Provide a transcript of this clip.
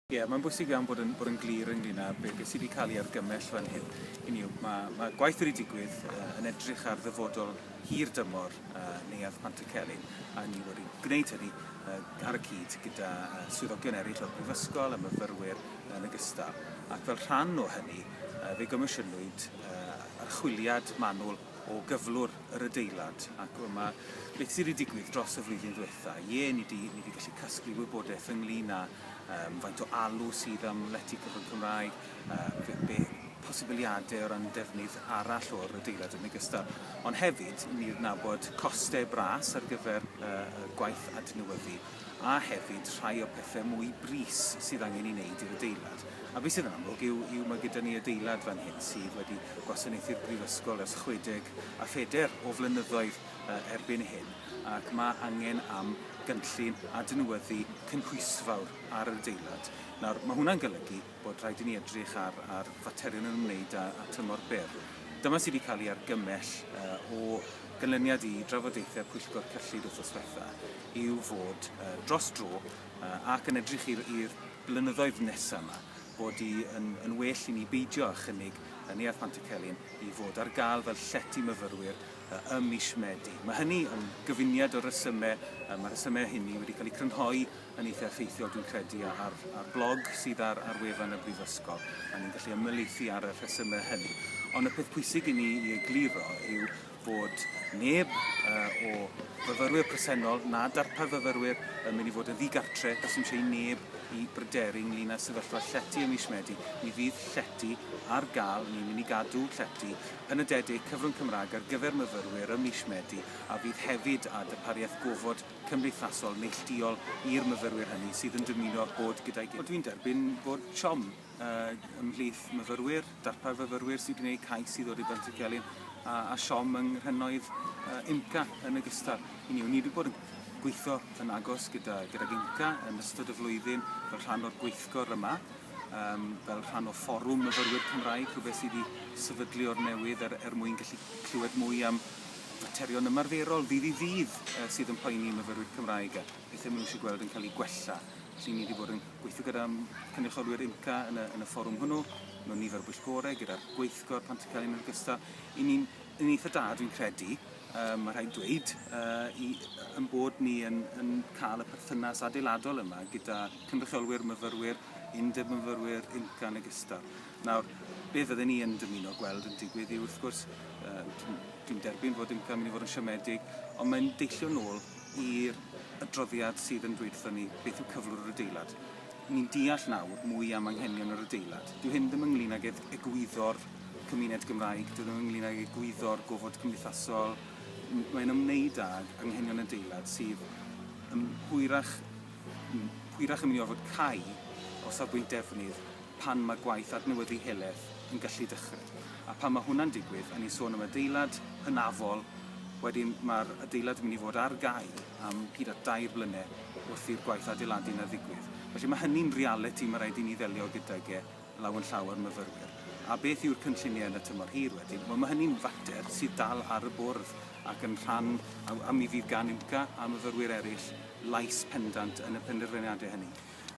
Ie, mae'n bwysig iawn bod yn, bod yn glir ynglyn â beth be sydd wedi cael ei argymell fan hyn. Hynny yw, mae, mae gwaith wedi digwydd uh, yn edrych ar ddyfodol hir dymor uh, Neuadd Pant y Celyn, a ni wedi gwneud hynny uh, ar y cyd gyda uh, swyddogion eraill o'r Brifysgol a myfyrwyr yn y gystal. Ac fel rhan o hynny, uh, fe gomisiynwyd uh, archwiliad manwl o gyflwr yr adeilad ac yma beth sydd wedi digwydd dros y flwyddyn ddiwetha. Ie, ni di, ni di gallu casglu wybodaeth ynglyn â um, faint o alw sydd am lety cyfrwng Cymraeg, uh, be, be posibiliadau o ran defnydd arall o'r adeilad yn ogystal. Ond hefyd, ni nabod costau bras ar gyfer uh, y gwaith adnewyddu a hefyd rhai o pethau mwy bris sydd angen ei wneud i'r adeilad. A beth sydd yn amlwg yw, yw mae gyda ni adeilad fan hyn sydd wedi o gwasanaethu'r Brifysgol ers 64 o flynyddoedd erbyn hyn ac mae angen am gynllun adnewyddu cynhwysfawr ar yr adeilad. Nawr, mae hwnna'n golygu bod rhaid i ni edrych ar, ar faterion yn ymwneud â, â tymor byr. Dyma sydd wedi cael ei argymell uh, o ganlyniad i drafodaethau pwyllgor cyllid wythnos diwetha yw fod uh, dros dro uh, ac yn edrych i'r blynyddoedd nesaf yma bod hi yn yn well i ni beidio â chynnig y Neuadd Pantycelyn i fod ar gael fel llety myfyrwyr ym mis Medi. Mae hynny yn gyfuniad o resymau, yy mae'r rhesymau hynny wedi cael eu crynhoi yn eitha' effeithiol dwi'n credu ar ar blog sydd ar ar wefan y Brifysgol a ni'n gallu ymhelaethu ar y rhesymau hynny. Ond y peth pwysig i ni i egluro yw bod neb o fyfyrwyr presennol na darpar fyfyrwyr yn mynd i fod yn ddigartre, does dim eisiau i neb i bryderu ynglyn â sefyllfa llety ym mis Medi. Mi fydd llety ar gael, ni'n mynd i gadw llety penodedig cyfrwng Cymraeg ar gyfer myfyrwyr ym mis Medi a fydd hefyd â darpariaeth gofod cymdeithasol neillduol i'r myfyrwyr hynny sydd yn dymuno bod gyda'i gilydd. Dwi'n derbyn bod siom. ymhlith myfyrwyr, darpar fyfyrwyr sy'n gwneud cais i ddod i Benthyg Celyn a, a siom yng nghrynnoedd uh, IMCA yn ogystal. Hynny yw, ni wedi bod yn gweithio yn agos gyda, gyda IMCA yn ystod y flwyddyn fel rhan o'r gweithgor yma, um, fel rhan o fforwm myfyrwyr Cymraeg, rhywbeth sydd wedi sefydlu o'r newydd er, er mwyn gallu clywed mwy am faterion ymarferol ddydd i ddydd uh, sydd yn poeni myfyrwyr Cymraeg. beth maen nhw eisiau gweld yn cael ei gwella. Felly ni wedi bod yn gweithio gyda cynrychiolwyr IMCA yn y, yn y fforwm hwnnw, mewn nifer o bwyllgorau gyda'r gweithgor pan ti'n cael yn ogystal. I ni'n yn eitha da, dwi'n credu, um, mae rhaid dweud, uh, i, yn bod ni yn, yn cael y perthynas adeiladol yma gyda cynrychiolwyr myfyrwyr, undeb myfyrwyr, IMCA yn ogystal. Nawr, be fydden ni yn dymuno gweld yn digwydd i wrth gwrs, uh, dwi'n derbyn fod IMCA yn mynd i fod yn siomedig, ond mae'n deillio nôl i'r adroddiad sydd yn dweud wrthon ni beth yw cyflwr yr adeilad. Ni'n deall nawr mwy am anghenion yr adeilad. Dyw hyn ddim ynglŷn ag egwyddor cymuned Gymraeg, dyw e ddim ynglŷn ag egwyddor gofod cymdeithasol, mae'n ymwneud ag anghenion adeilad sydd yn hwyrach yn hwyrach yn mynd i orfod cau o safbwynt defnydd pan mae gwaith adnewyddu heleth yn gallu dechrau. A pan mae hwnna'n digwydd, a ni'n sôn am adeilad hynafol, wedyn mae'r adeilad yn mynd i fod ar gau am hyd at dair blynedd wrth i'r gwaith adeiladu yna ddigwydd. Felly mae hynny'n realiti mae rhaid i ni ddelio gydag e law yn llaw â'r myfyrwyr. A beth yw'r cynlluniau yn y tymor hir wedyn? Wel, mae hynny'n fater sydd dal ar y bwrdd ac yn rhan, a mi fydd gan UMCA a myfyrwyr eraill lais pendant yn y penderfyniadau hynny.